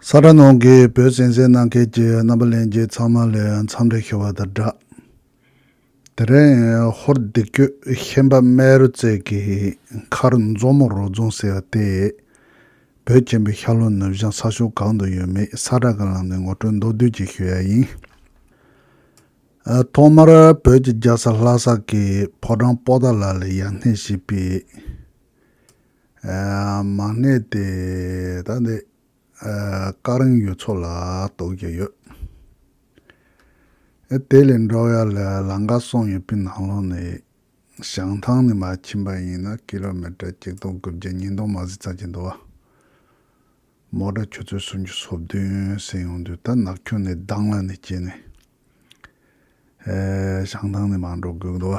ས་གྲ་ནང་གི་བོད་སེང་སེང་གནང་མཁན་གྱི་རྣམ་པ་ལེན་རྒྱུ་ཚང་མ་ལས་མཚམས་རེ་ཤོར་བ་དང་འདྲ། དེ་རིང་ཧོར་སྡེ་བརྒྱུད་ཤན་པ་རྨེ་རུ་རྩེ་གི་མཁར་མཛོ་མོ་རོ་རྫོང་ཟེར་བ་དེ། བོད་ཆེན་པོའི་ཤར་ལྷོ་ནུབ་བྱང་ས་ཕྱོགས་གང་དུ་ཡོད་མེད་ས་གྲ་གང་ལ་ནས་ངོ་སྤྲོད་མདོར་བསྡུས་ཀྱིས་ཞུ་ཡ་ཡིན། ཐོག་མར་བོད་ཀྱི་རྒྱལ་ས་ལྷ་ས་ཀྱི་ཕོ་བྲང་སྤོ་ད་ལ་ལ་ཡར་སྣེ་ཞིག་པའི། མང་ནས་དེ་དག་ནི་ཀ་རིང་ཡུལ་ཚོ་ལ་གཏོགས་ཀྱི་ཡོད། དེ་ལས་འབྲོག་ཡ་ལ་ལང་ཀ་སོང་ཡོད་པའི་ནང་ལོགས་ནས་བྱང་ཐང་ནས་མ་ཕྱིན་པ་ཡིན་ན་ཀི་ལོ་མེ་ཏར་གཅིག་སྟོང་དགུ་བརྒྱ་གཉིས་སྟོང་མ་ཟིག་ཙམ་གྱི་འདུག་མོ་དྲ་ཁྱོད་ཚོའི་སུམ་ཅུ་སོ་བདུན་ཟིན་ཡོང་དུས་ད་ནག་ཁྱུང་ནས་གདང་ལ་ནས་སྐྱེས་ནས་བྱང་ཐང་ནས་མ་འགྲོ་དགོས་གི་འདུག།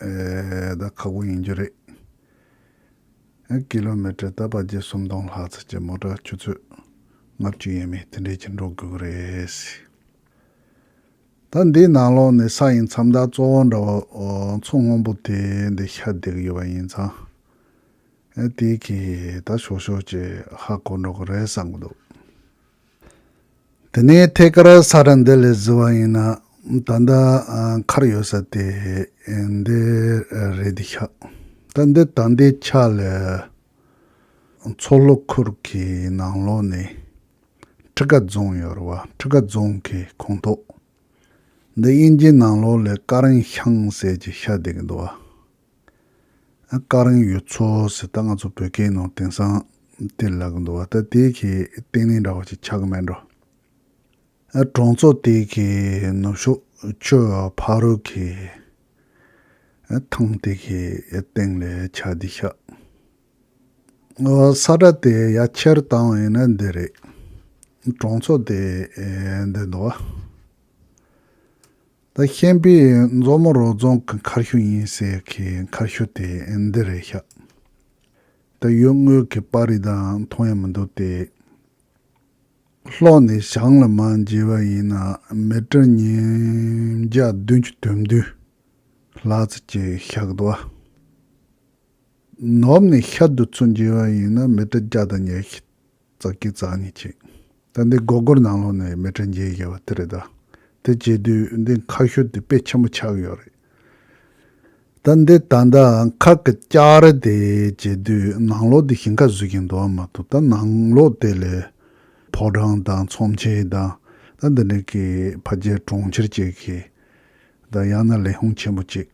ད་ཁག་པོ་ཡིན་རྒྱུ་རེད། ཀི་ལོ་མི་ཀྲི་རྟ་པ་བརྒྱད་སུམ་སྟོང་ལྷག་ཚད་ཀྱི་མོ་ཀྲ་ཆུ་ཚོད་ལྔ་བཅུ་ཡས་མས་དེ་འདྲས་ཀྱི་འགྲོ་དགོས་ཀྱི་རེད། ད་འདིའི་ནང་ལོགས་ནས་ས་ཡི་མཚམས་དག་གཙོ་བོ་འདྲ་བོ་མཚོ་སྔོན་པོ་དེ་འདི་ཤར་བསྡད་ཡོད་པ་ཡིན་ཙང། དེ་གིས་ད་ཞོག་ཞོག་ཅིག་ཧ་གོ་འགྲོ་གི་རེད་བསམ་གྱི་འདུག། དེ་ནས་ཐད་ཀར་ས་ར་འདི་ལས་བཟི་བ་ཡིན་ན་ད་ལྟ་མཁར་ཡོད་ས་དེ་འདི་རེད་འདི་ཤག་ད་འདི་ད་འདི་ཆ་ལས་མཚོ་ལྷོ་ཁུལ་གྱི་ནང་ལོགས་ནས་ཁྲི་ཀ་རྫོང་ཡོད་རེད་བ་ཁྲི་ཀ་རྫོང་གི་ཁོངས་གཏོགས་འདི་དབྱིན་ཇིའི་ནང་ལོགས་ལས་ཀ་རིང་ཤང་ཟེར་གྱི་ཤར་བསྡད་གི་འདུག་བ། བཀའ་རིང་ཡོད་ཚོ་ཟེར་ད་ང་ཚོ་བོད་སྐད་ནང་དེང་སང་དེ་ལབ་གི་འདུག་བ་ད་དེ་གི་སྟེང་ལན་འདྲ་བ་ཞིག་ཆགས་གི་མེད་འགྲོ། གྲོང་ཚོ་དེ་གི་ནུབ་ཕྱོགས་ཆུ་བོ་ཕག་རོལ་གི་ཐང་དེ་གི་སྟེང་ལས་ཆ་འདི་ཤག་ས་དྲ་དེ་ཡ་ཁྱེར་བཏང་བ་ཡིན་ན་འདི་རེད་གྲོང་ཚོ་དེ་འདི་འདུག་བ། ད་ཤན་པའི་མཛོ་མོ་རོ་རྫོང་གི་མཁར་ཤུལ་ཡིན་ཟེར་མཁན་མཁར་ཤུལ་དེ་འདི་རེད་ཤག། ད་ཡུལ་དངོས་ཀྱི་པར་རིས་དང་མཐོང་ཡ་མི་འདུག་སྟེ། ལྷོ་ནས་བྱང་ལ་མ་འཇལ་བ་ཡིན་ན་མི་གྲངས་ཉིས་བརྒྱ་བདུན་ཅུ་དོན་བདུན་ལྷག་ཙི་ཅི་ཤག་གདོ་བ། ནུབ་ནས་ཤར་དུ་ཚུར་འཇལ་བ་ཡིན་ན་མི་གྲངས་བརྒྱ་དང་ཉེར་བཞི་རྩ་སྐྱི་རྩ་གཉིས་བཅིངས། ད་འདི་སྒོ་སྒོར་ནང་ལོགས་ནས་མི་གྲངས་བརྒྱད་བརྒལ་བ་དེ་རེད་ད། དེ་བྱེད་དུས་འདི་མཁའ་ཤོད་དེ་དཔེ་ཆེན་པོ་ཆགས་ཡོད་རེད། ད་འདི་ད་ད་མཁའ་གི་ལྕགས་རི་དེ་བྱེད་དུས་ནང་ལོགས་དེ་ཞིང་ཁ་བཟོས་ཀྱིན་འདུག་མ་གཏོགས་ད་ནང་ལོགས་དེ་ལས་ཕོ་བྲང་དང་ཚོམས་ཆེན་དང་ད་འདི་འདྲ་གི་ཕ་རྒྱལ་གྲོང་ཁྱེར་བཅས་གིས་ད་ཡང་ན་ལས་ཧུང་ཆེན་པོ་གཅིག།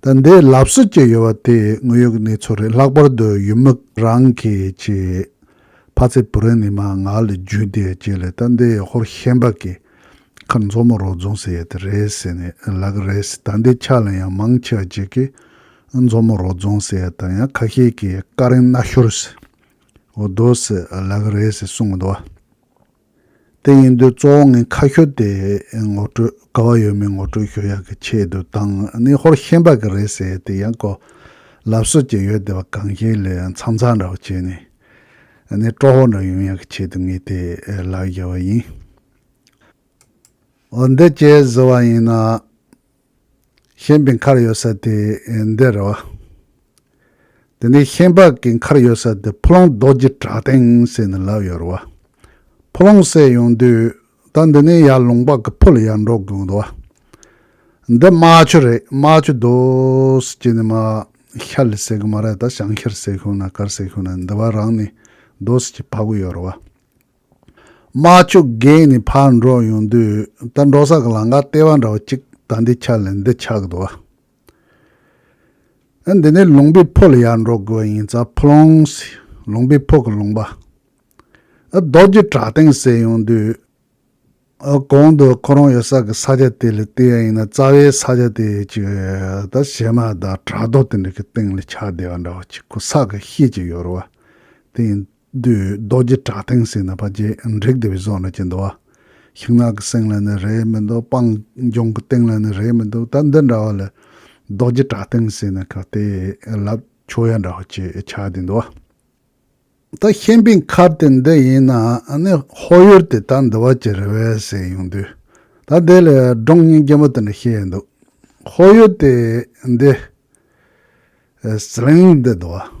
ད་ལྟའི་ལབ་གསོ་བྱས་ཡོད་པ་དེ་དངོས་ཡོད་ཀྱི་གནས་ཚུལ་རེད་ལྷག་པར་དུ་ཡུལ་མི་རང་གི་ཆེས་ཕ་ཚེ་བུ་རན་ནི་མ་ང་ལ་བརྒྱུད་དེ་ཁྱེད་ལས་ད་ལྟའི་ཧོར་ཤན་པ་གི་ཁར་མཛོ་མོ་རོགས་རྫོང་ཟེར་ཡོད་དེ་རེད་ཟེར་ནས་ལབ་ཀྱི་རེད་ཟེར་ད་ལྟའི་ཆ་ལ་ཡང་མང་ཆེ་བ་གཅིག་གིས་མཛོ་མོ་རོགས་རྫོང་ཟེར་ཡོད་དང་ཡང་ཁ་ཤས་ཀྱིས་ཀ་རིང་སྣ་ཤོར་ཟེར་འོ་དོ་ཟེར་ལབ་ཀྱི་རེད་ཟེར་གསུང་གི་འདུག་བ། དེ་ཡིན་དུས་གཙོ་བོ་ངས་ཁ་ཤོ་དེ་ངོ་སྤྲོད་དཀའ་བ་ཡོད་མེད་ངོ་སྤྲོད་ཞུ་ཡག་གི་ཆེད་དུ་བཏང་ནི་ཧོར་ཤན་པ་གི་རེད་ཟེར་དེ་ཡང་གོ། ལབ་སྲོལ་གྱི་ཡོད་དེ་བ་གང་ཞིག་ལས་མཚམས་མཚམས་འདྲ་བོ་བྱས་ནས་ནི་སྤྲོ་བོ་འདྲ་ཡོང་ཡག་གི་ཆེད་དུ་ངས་དེ་ལག་བཞར་བ་ཡིན། འོ་འདི་ཅེས་ཟེར་བ་ཡིན་ན། ཤན་པའི་མཁར་ཡོད་ས་དེ་འདི་རེད་བ། དེ་ནས་ཤན་པ་གི་མཁར་ཡོད་ས་དེ་ཕོ་ལོང་རྡོ་རྗེ་བྲག་སྟེང་ཟེར་ནས་ལབ་ཡོད་རེད་བ། ཕོ་ལོང་བསད་ཡོང་དུས་ད་འདི་ནས་ཡར་ལུང་པ་གི་ཕུ་ལ་ཡར་འགྲོ་དགོས་འདུག་བ། འདི་རྨ་ཆུ་རེད་རྨ་ཆུ་དུས་ཀྱི་ནི་མ་ཤར་ལི་ཟེར་གི་མ་རེད་ད་བྱང་ཤར་ཟེར་ཤོག་ན་གར་ཟེར་ཤོག་ན་འདི་བ་རང་ནི་དུས་ཀྱི་ཕ་གུ་ཡོད་རེད་བ། དམག་ཕྱུག་རྒན་ནི་ཕར་འགྲོ་ཡོང་དུས་ད་འགྲོ་ས་གི་ལང་ཀ་ལྟེ་བ་འདྲ་བ་གཅིག་ད་འདི་ཆགས་ལས་འདི་ཆགས་འདུག་བ། ཨ་འདི་ནས་ལུང་པའི་ཕོ་ལ་ཡར་འགྲོ་དགོས་པ་ཡིན་ཙ་ཕོ་ལོང། ལུང་པའི་ཕོ་གི་ལུང་པ། ཨ་རྡོ་རྗེ་བྲག་སྟེང་བསད་ཡོང་དུས། ཨ་གོང་དུ་ཁོ་རང་ཡོད་ས་གི་ས་ཆ་དེ་ལས་སྟེ་ཡ་ཡིན་ན་རྩ་བའི་ས་ཆ་དེ་གཅིག་ད་བྱེ་མ་དང་བྲག་རྡོ་དེ་འདྲ་གི་སྟེང་ལ་ཆགས་བསྡད་པ་འདྲ་བ་གཅིག་ཁོ་ས་གི་ཤེས་ཀྱི་ཡོད་རུང་བ་དེ་ཡིན། བདུད་རྡོ་རྗེ་བྲག་སྟེང་སྲིད་ན་བ་རྗེ་འབྲེག་བདེ་བའི་སྲོག་ནི་ཅི་འདུལ་བ། ཤིང་ནགས་ཀྱི་སེང་ལ་ནི་རས་མི་འདུག་སྤང་ལྗོངས་ཀྱི་སྟེང་ལ་ནི་རས་མི་འདུག་ད་འདི་འདྲ་བ་ལས། རྡོ་རྗེ་བྲག་སྟེང་སྲིད་ན་གང་བལྟས་བསླབ། ཆོས་ཡ་འདྲ་བ་ཅི་བྱ་འདི་འདུལ་བ། ད་ཤན་པའི་མཁར་དེ་འདི་ཡིན་ན་ནི་ཧོར་ཡུལ་དེ་ད་འདི་བ་ཅི་རེད་བས་ཟེར་ཡོང་དུས། ད་དེ་ལས་སྒྲུང་རྙིང་རྒན་པོ་དེ་འདྲ་ཤེས་ཡོད་འདུག་ཧོར་ཡུལ་དེ་འདི། ཟི་ལིང་འདི་འདུལ་བ།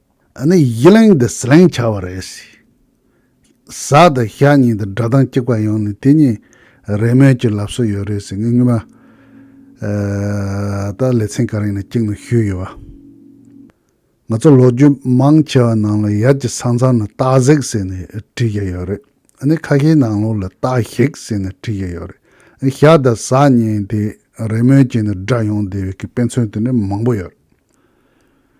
ཨ་ནི་ཡིད་ལེང་འདི་ཟི་ལེང་བྱ་བ་རེད། ཟ་དང་ཤ་གཉིས་དང་སྒྲ་གདངས་གཅིག་པ་ཡོང་ནས་དེ་གཉིས་རེས་མོས་ཀྱི་ལབ་སྲོལ་ཡོད་རེད་ཟེར་ངས་སྔོན་མ་ད་ལེ་ཚན་ག་རིང་ནས་གཅིག་ནང་ཞུས་ཡོད་བ། ང་ཚོ་ལོ་རྒྱུས་མང་ཆེ་བ་ནང་ལ་ཡར་གྱི་ས་མཚམས་ནི་སྟག་གཟིག་ཟེར་ནས་བྲིས་བཞག་ཡོད་རེད། ཨ་ནི་ཁ་ཤས་ནང་ལོགས་ལ་སྟག་ཞིག་ཟེར་ནས་བྲིས་བཞག་ཡོད་རེད། ཤ་དང་ཟ་གཉིས་དེ་རེས་མོས་བྱས་ནས་སྒྲ་ཡོང་བསྡད་ཡོད་ཀི་དཔེ་མཚོན་དེ་འདྲ་མང་པོ་ཡོད་རེད།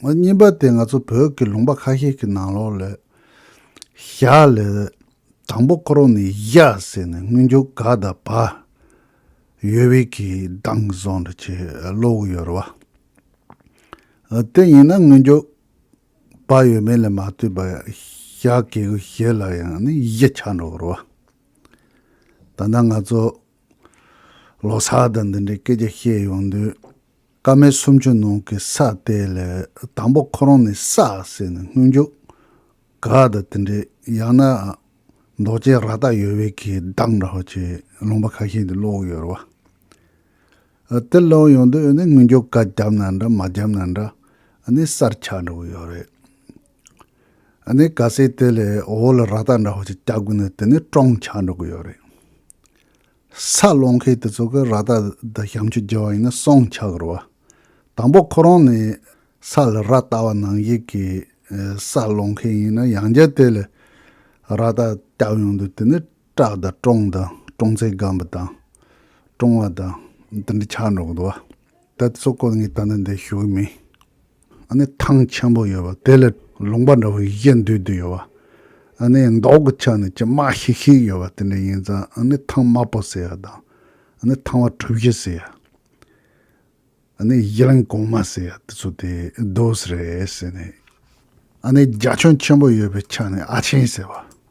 ངོ་གཉིས་པ་དེ་ང་ཚོ་བོད་ཀྱི་ལུང་པ་ཁ་ཤས་ཀྱི་ནང་ལོགས་ལས། ཞྭ་ལས། དང་པོ་ཁོ་རང་ནས་གཞའ་ཟེར་ནས་སྔོན་འཇུག་ག་དང་བ། ཡོལ་བས་ཀྱི་གདངས་བཟང་འདྲ་ཆེ་བློ་བུ་ཡོལ་བ། དེ་ཡིན་ན་སྔོན་འཇུག་བ་ཡོད་མེད་ལས་མ་བལྟོས་པར་ཞྭ་གས་གུ་ཞེས་ལ་ཡང་ནི་གཞི་ཆགས་འགྲོ་བར་བ། ད་ནང་ང་ཚོ་ལོ་སར་དང་འདི་འདྲའི་སྐད་ཆ་བཤད་ཡོང་དུས། སྐར་མའི་སུམ་ཅུ་ནང་གི་ས་དེ་ལས་དང་པོ་ཁོ་རང་ནི་ས་ཟེར་ནས་སྔོན་འཇུག་ག་དང་དེ་འདྲའི་ཡང་ན་འདོགས་ཅན་ར་ཏག་ཡོད་བས་གི་གདངས་འདྲ་བ་ཅན་ལུང་པ་ཁ་ཤས་འདི་ཀློག་ཡོད་རེད་བ། དེ་ཀློག་ཡོང་དུས་ནི་སྔོན་འཇུག་ག་བརྒྱབ་ན་འདྲ་མ་བརྒྱབ་ན་འདྲ་ནི་གསར་ཆགས་འདྲ་བོ་ཡོད་རེད། ནི་ག་ཟེར་དེ་ལས་འོག་ལ་ར་ཏག་འདྲ་བ་ཅིག་བཀྱག་དགོས་ན་དེ་ནི་ཀྲོང་ཆགས་འདྲ་གི་ཡོད་རེད། ས་སློང་མཁན་དེ་ཚོ་གི་ར་ལྟ་དང་བྱམས་མཆོད་རྒྱག་བ་ཡིན་ན་སོང་ཆགས་དགོས་པ། དང་པོ་ཁོ་རང་ནི་ས་ལ་ར་ལྟ་བ་ནང་བཞིན་གྱི་ས་སློང་མཁན་ཡིན་ན་ཡང་བསྐྱར་དེ་ལ་ར་ལྟ་བཏབ་ཡོང་དུས་དེ་ནི་སྐྲག་དང་བཀྲོངས་དང་བཀྲོངས་ཚད་སྒམ་པོ་དང་བཀྲོངས་བ་དང་འདི་འདྲ་ཆགས་འགྲོ་གི་འདུག་བ། ད་གཙོ་ཁོ་ངའི་ལྟ་ན་འདི་ཞུ་གི་མིན། ཨ་ནི་ཐང་ཆེན་པོ་ཡོད་པ་དེ་ལ་ལུང་པ་འདྲ་བོ་ཡི་གེ་འདུས་འདུས་ཡོད་པ། ཨ་ནི་མདོག་གི་ཆ་ནས་ཅི་མ་ཤིག་ཤིག་ཡོད་པ་དེ་འདྲ་ཡིན་ཙང་ཨ་ནི་ཐང་དམར་པོ་ཟེར་ཡ་དང་ཨ་ནི་ཐང་བ་གྲུ་བཞི་ཟེར་ཡ། ཨ་ནི་གཞི་རིང་གོང་མ་ཟེར་ཡ་དེ་ཚོ་དེ་རྡོ་ཟེར་རེད་ཟེར་ནས། ཨ་ནི་རྒྱ་ཁྱོན་ཆེན་པོ་ཡོད་པའི་ཆ་ནས་ཨ་ཆེན་ཟེར་བ།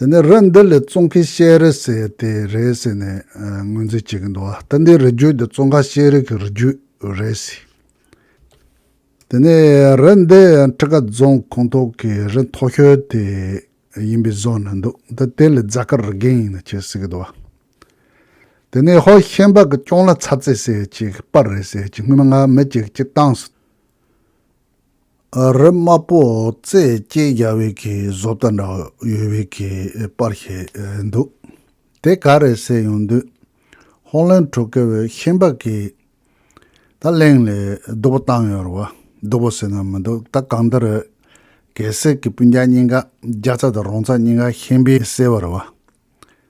དེ་ནས་རི་འདི་ལས་ཙོང་ཁའི་ཤེལ་རི་བསད་དེ་རེད་ཟེར་ནས་ངོས་འཛིན་བྱེད་ཀྱི་འདུག་ད་ལྟའི་རི་རྒྱུད་འདི་ཙོང་ཁ་ཤེལ་རི་གི་རི་རྒྱུད་རེད་ཟེར། དེ་ནས་རི་འདི་ཁྲི་ཀ་རྫོང་ཁོངས་གཏོགས་ཀྱི་རི་མཐོ་ཤོས་དེ་ཡིན་པའི་བཟོ་ནས་འདུག་ད་དེ་ལས་རྫ་དཀར་རི་རྒན་ཡིན་ནི་ཅེས་ཟེར་གྱི་འདུག་དེ་ནས་ཧོ་ཤན་པ་གི་སྐྱོང་ལ་ཚ་ཚེ་ཟེར་གཅིག་པར་རེད་ཟེར་གཅིག་སྔོན་མ་ང་མི་གཅིག་གཅིག་བཏང་སོང། རིབ་དམར་པོ་རྩེད་སྐྱེས་རྒྱག་བའི་གི་བཟོ་ལྟ་འདྲ་ཡོད་བའི་གི་པར་ཞིག་འདུག་དེ་ག་རེད་ཟེར་ཡོང་དུས། ཧོང་ལན་གྲོ་སྐལ་བའི་ཤན་པ་གིས། ད་གླེང་ལས་སྡུག་པོ་བཏང་ཡོད་རེད་བ། སྡུག་པོ་ཟེར་ན་མི་འདུག་ད་གང་འདི་རེད། གལ་སྲིད་གི་སྤུན་རྒྱག་གཉིས་ཀ་རྒྱ་ཚ་དང་རོང་ཚ་གཉིས་ཀ་ཤན་པའི་སེར་བ་རེད་བ།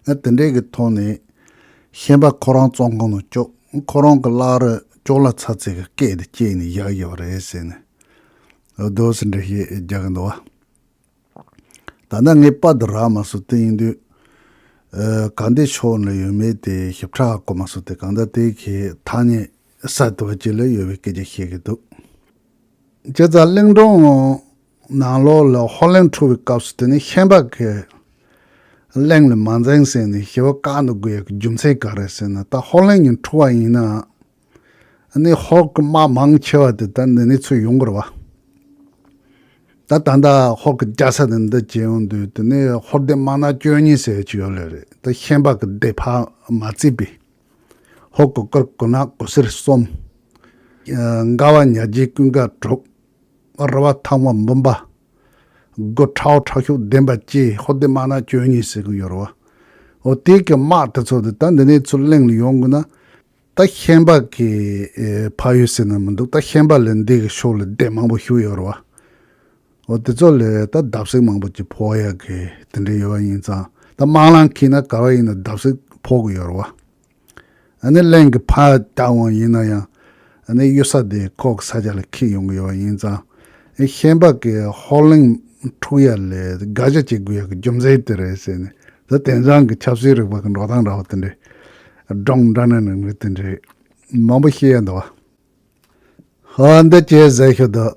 ཨ་དེ་འདྲས་ཀྱི་ཐོག་ནས། ཤན་པ་ཁོ་རང་བཙོང་ཁང་དུ་ཅོག་ཁོ་རང་གི་བླ་རུ་ཅོག་ལ་ཚ་ཚིག་གི་སྐད་དེ་སྐྱེས་ནས་བཞག་ཡོད་པ་རེད་ཟེར་ནས། རྡོ་སེ་འདྲེ་ཞེས་རྒྱག་གིན་འདུག་བ། ད་ལྟ་ངས་པར་དུ་རག་མ་སོང་དེ་ཡིན་དུས། གང་དེའི་ཕྱོགས་ལ་ཡོད་མེད་དེ་ཞིབ་ཕྲ་གོ་མ་སོང་དེ་གང་ལྟར་དེའི་གི་ཐ་སྙད་གསར་དུ་བ་ཅི་ལ་ཡོད་པའི་སྐད་ཆ་བཤད་ཀྱི་འདུག། ཁྱེད་རང་གླིང་སྒྲུང། ནང་ལོགས་ལ་ཧོར་གླིང་འཁྲུག་པའི་སྐབས་སུ་དེ་ནི་ཤན་པ་གའི་གླིང་ལས་མ་འཛེངས་ཟེར་ནས་ཞི་བ་བཀག་འདུག་དགོས་ཡག་གི་རྒྱུ་མཚན་ག་རེ་ཟེར་ན་ད་ཧོར་གླིང་གི་འཁྲུག་བ་ཡིན་ན་ནི་ཧོར་གི་དམག་མང་ཆེ་བ་དེ་ད་འདི་ནས་ཚུར་ཡོང་དགོས་རེད་བ། ད་ད་ལྟ་ཧོར་གི་རྒྱལ་ས་དེ་འདི་བྱེད་ཡོང་དུས་དེ་ནི་ཧོར་སྡེ་དམག་ནག་བཅོ་ལྔས་བསད་ཀྱི་ཡོད་ལེ་རེད་ད་ཤན་པ་གི་སྡེ་ཕ་མ་རྩིས་པས་ཧོར་གི་སྐུར་གུ་ནག་གུ་སེར་གསུམ། མགར་བ་ཉག་རྗེའི་ཀུན་དགའ་དྲུག། ར་བ་ཐང་བ་འབུམ་པ། སྒོ་ཁྲའོ་ཁྲག་ཤུགས་ལྡན་པ་བཅས་ཧོ་དེ་དམག་ནག་བཅོ་ལྔས་བསད་གི་ཡོད་རོ། ཧོ་དེ་གི་དམག་དེ་ཚོ་དེ་ད་འདི་ནས་ཚུར་གླེང་ལ་ཡོང་དགོས་ན། ད་ཤན་པ་གི་ཕ་ཡུལ་ཟེར་ན་མི་འདུག་ད་ཤན་པ་ལས་འདི་གི་ཕྱོགས་ལ་སྡེ་མང་པོ་ཞུགས་ཡོད་རོ། ཧོ་དེ་ཚོ་ལས་ད་བརྡབ་བསིག་མང་པོ་བྱེད་ཕོག་ཡག་གི་དེ་འདྲས་ཡོད་པ་ཡིན་ཙང་ད་དམག་ལང་ཁིས་ན་ག་བ་ཡིན་ན་བརྡབ་བསིག་ཕོག་གི་ཡོད་རོ། ནི་གླིང་གི་ཕ་རྟ་དབང་ཡིན་ན་ཡང་ནི་གཡུལ་ས་དེ་ཁོག་ས་ཆ་ལ་འཁེལ་ཡོང་གི་ཡོད་པ་ཡིན་ཙང་ཤན་པ་ཀའི་ཧོར་གླིང་འཁྲུག་ཡ་ལས་དགག་བྱ་བྱེད་དགོས་ཡག་གི་རྒྱུ་མཚན་དེ་རེད་ཟེར་ནས་ད་དེང་སང་གི་ཆབ་སྲིད་རིག་པ་གི་འགྲོ་སྟངས་འདྲ་བ་དེ་འདྲའི་སྒྲོམ་འདྲ་ནང་ནང་རིགས་དེ་འདྲའི་མང་པོ་ཤེས་ཡ་འདུག་བ། ཧོ་འདི་ཇེ་ཟེར་ཤོས་འདུག།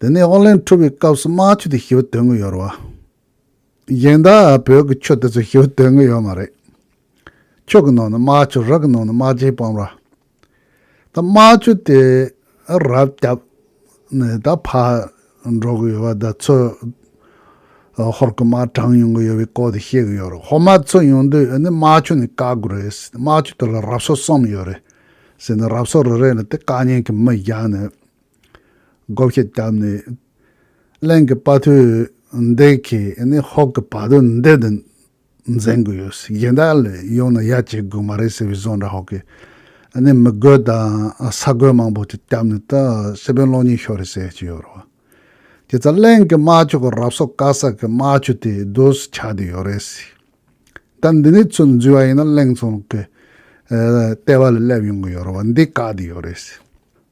དེ་ནས་ཨོ་ལན་འཁྲུ་བའི་སྐབས་སུ་རྨ་ཆུ་དེ་ཞི་བ་དོན་དངོས་ཡོད་རེད་བ། གཞན་དག་བོད་ཀྱི་ཆུ་དེ་ཚོ་ཞི་བ་དོན་དངོས་ཡོད་མ་རེད། ཆུ་གི་ནང་ན་རྨ་ཆུ་རག་གི་ནང་ན་རྨ་བྱའི་སྤང་ར། ད་རྨ་ཆུ་དེ་རབ་བསྐྱབས་ནས་ད་ཕར་འགྲོ་གི་ཡོད་བ་ད་ཚོས་ཧོར་གི་རྨ་གྲངས་ཡོང་གི་ཡོད་བའི་སྐོར་དེ་བཤད་གི་ཡོད་རེད་ཧོར་རྨ་ཚོ་ཡོང་དུས་ཨེ་ནི་རྨ་ཆུ་ནས་བཀག་དགོས་རེད་ཟེར་ཏེ་རྨ་ཆུ་དེ་ལ་རབ་གསོ་གསུམ་ཡོད་རེད་ཟེར་ནས་རབ་གསོ་རེ་རེ་ལ་དེ་བཀག་ཉན་གྱི་མི་བཞག་ནས་སྒོ་ཕྱེ་བཏབ་ནས་གླིང་གི་དཔའ་ཐུལ་འདི་གིས་ནི་ཧོར་གྱི་བ་དོ་འདི་དང་འཛིང་དགོས་ཡོད་སྲིད་གཞན་དག་ལ་ཡོང་ན་ཡ་བྱེད་དགོས་མ་རེད་ཟེར་བའི་བཟོ་འདྲ་ཧོར་གྱིས་ནི་མི་རྒོད་དང་ས་རྒོད་མང་པོ་ཞིག་བསྐྱབས་ནས་ད་སྲིད་དཔོན་གློག་བརྙན་ཤོར་རེད་ཟེར་གྱི་ཡོད་རེད་དེ་ཚ་གླིང་གི་དམག་ཆོས་ཀྱི་རབས་སོགས་དཀར་ཟག་གི་དམག་ཆོས་དེ་སྡོད་སུ་ཆགས་བསྡད་ཡོད་རེད་སྲིད་ད་འདི་ནས་ཚུར་འཛུལ་བ་ཡིན་ན་གླིང་ཚང་གི་ལྟེ་བ་ལ་སླེབས་ཡོང་གི་ཡོད་རེད་བ་འདི་བཀག་བསྡད་ཡོད་རེད་སྲིད།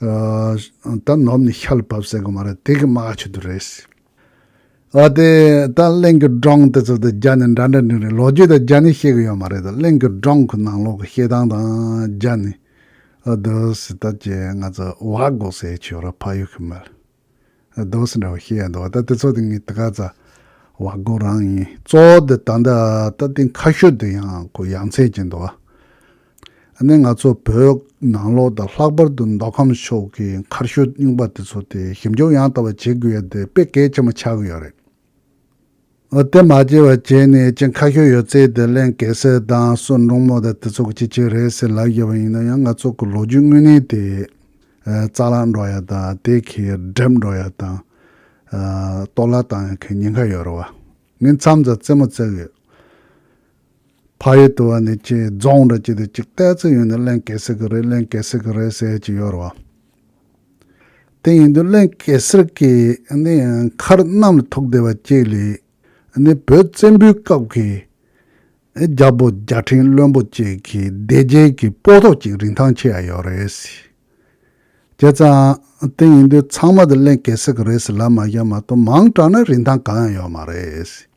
ད་ནོར་ནི་ཤར་ལ་བབས་ཟེར་གི་མ་རེད་དེ་གི་སྨྲ་ཁ་ཆོད་དུ་རེད། ཨ་དེ་ད་གླེང་གི་སྒྲོང་དེ་ཚོ་དང་རྒྱ་ནི་འདྲ་འདྲ་འདྲིས་རེད་ལོ་རྒྱུས་དང་རྒྱ་ནི་ཤེས་གི་ཡོད་མ་རེད་ད་གླེང་གི་སྒྲོང་གི་ནང་ལོག་གི་བཤད་སྟངས་དང་རྒྱ་ནི་ཨ་དེ་ཟི་ད་ཅེ་ང་ཚོ་བག་འགོག་སའི་ཆོས་ར་ཕ་ཡུལ་གི་མི། རྡོ་སོལ་འདྲ་བོ་ཤེས་ཡག་འདུག་ད་དེ་ཚོ་དེ་ངའི་དགའ་ཚ་བ་དགོ་རང་ཡིན། གཙོ་བོ་དེ་ད་ལྟ་ད་ལྟའི་མཁའ་ཤོད་དུ་ཡང་ཁོ་ཡ་མཚན་སྐྱེས་འདུག་ཨ་ནེ་ང་ཚོ་བོད་ནང་ལོག་དང་ལྷག་པར་དུ་མདོ་ཁམས་ཕྱོགས་ཀྱི་མཁར་ཤོད་རྙིང་པ་དེ་ཚོ་དེ་ཞིབ་འཇུག་ཡང་དག་པ་བྱེད་དགོས་ཡོད་དེ་དཔེ་གལ་ཆེན་པོ་ཆགས་ཀྱི་ཡོད་རེད། དེ་མ་སྐྱེལ་བར་བྱས་ནས་ཅི་ཁ་ཤོས་ཡོད་ཚད་དེ་གླེང་གལ་སེ་དང་གསོན་འབྲོང་མོ་དང་དེ་ཚོ་གི་ཅི་བྱེད་རེད་ཟེར་ལབ་ཡོད་པ་ཡིན་ན་ཡང་ང་ཚོ་གི་ལོ་རྒྱུས་དངོས་གནས་དེ་རྩ་ལག་འགྲོ་ཡག་དང་དེ་གི་སྒྲིབ་འགྲོ་ཡག་དང་གཏོར་བརླག་བཏང་ཡག་གི་ཉེན་ཁ་ཡོད་རེད་བ། ངས་མཚམས་རྩ་རྩེ་མོ་བརྩེགས་ཡོད། ཕ་ཡུལ་དུ་བ་ནི་ཅེས་རྫོང་འདྲ་གཅིག་དེ་ཅིག་བལྟས་ཚོད་ཡོད་ནི་གླེན་གེ་སེར་གི་རེད་གླེན་གེ་སེར་གི་རེད་ཟེར་གྱི་ཡོད་རེད་བ། དེ་ཡིན་དུས་གླེན་གེ་སེར་གི་ནི་མཁར་གནམ་ལ་ཐུག་བསྡད་པ་གཅིག་ལས་ནི་བོད་བཙན་པོའི་སྐབས་ཀྱི་རྒྱ་བོད་རྒྱ་ཕྲེང་བློན་པོ་གཅིག་གི་སྡེ་རྒྱལ་གྱི་སྤོ་ཐོག་གཅིག་རིན་ཐང་ཆེ་ཡ་ཡོད་རེད་ཟེར་བྱས་ཙང་དེ་ཡིན་དུས་ཚང་མ་དེ་གླེན་གེ་སེར་གི་རེད་ཟེར་ལབ་མ་ཤར་མ་གཏོགས་མང་དྲགས་ན་རིན་ཐང་གང་ཡང་ཡོད་མ་རེད་ཟེར།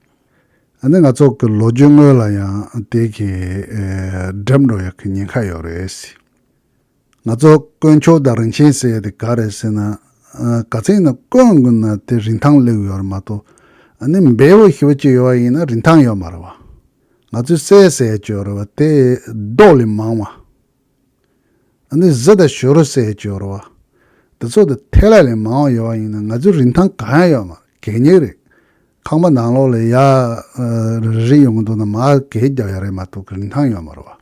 ཨ་ནི་ང་ཚོག་གི་ལོ་རྒྱུས་དངོས་ལ་ཡང་དེ་གི་འགྲེམས་འགྲོ་ཡག་གི་ཉེན་ཁ་ཡོད་རེད། ང་ཚོ་དཀོན་མཆོག་དང་རིན་ཆེན་ཟེར་ཡ་དེ་ག་རེད་ཟེར་ན། ག་ཚེན་ན་དཀོན་དགོས་ན་དེ་རིན་ཐང་ལེའུ་ཡོད་རེད་མ་གཏོགས་ཨ་ནི་འབེལ་བོ་ཞེ་བོ་གཅིག་ཡོད་བ་ཡིན་ན་རིན་ཐང་ཡོད་མ་རེད་བ། ང་ཚོས་གསལ་གསལ་བརྗོད་རེད་བ་དེ་རྡོག་ལས་མང་བ། ཨ་ནི་གཟི་དང་ཞོ་རུ་སའི་ཇོ་རུ་བ། འདི་ཚོ་དང་ཐལ་ལ་ལས་མང་བ་ཡོད་པ་ཡིན་ན་ང་ཚོའི་རིན་ཐང་གང་ཡང་ཡོད་མ་གད་སྙིགས་རེད། ཁང་པ་ནང་ལོགས་ལས་ཡ་རེ་རེ་ཡོང་གི་འདུག་ན་མ་གད་རྒྱབ་ཡ་རེ་མ་ཐུག་གི་རིན་ཐང་ཡོད་མ་རུ་བ།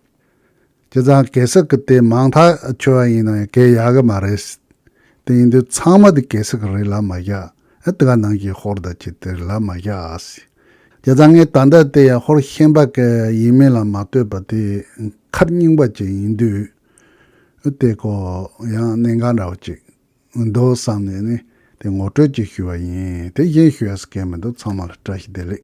ཁྱེད་ཚང་གད་སྲིག་གི་དེ་མང་ཐག་ཆོད་བ་ཡིན་ན་ཡང་གད་ཡ་གི་མ་རེད། དེ་ཡིན་དུས་ཚང་མ་དེ་གད་སྲིག་གི་རེད་ལབ་མ་བཞག་ཨེ་དེ་ག་ནང་གི་ཧོར་ཟླ་ཁྱི་དེ་རེད་ལབ་མ་བཞག་ཨ་སི། དེ་ལྟར་ངས་ད་ལྟ་དེ་ཡང་ཧོར་ཤན་པ་ཀའི་ཡིན་མིན་ལ་མ་ལྟོས་པར་དེ་མཁར་རྙིང་པ་ཅིག་ཡིན་དུས། དེ་ཀོ་ཡང་གནད་འགག་འདྲ་བོ་ཅིག་འདུག་བསམ་ནས་ནི་དེ་ངོ་སྤྲོད་ཅིག་ཞུས་པ་ཡིན་དེ་གཞན་ཞུས་ཡ་ས་སྐད་མི་འདུག་ཚང་མ་ལ་བཀྲ་ཤིས་བདེ་ལེགས།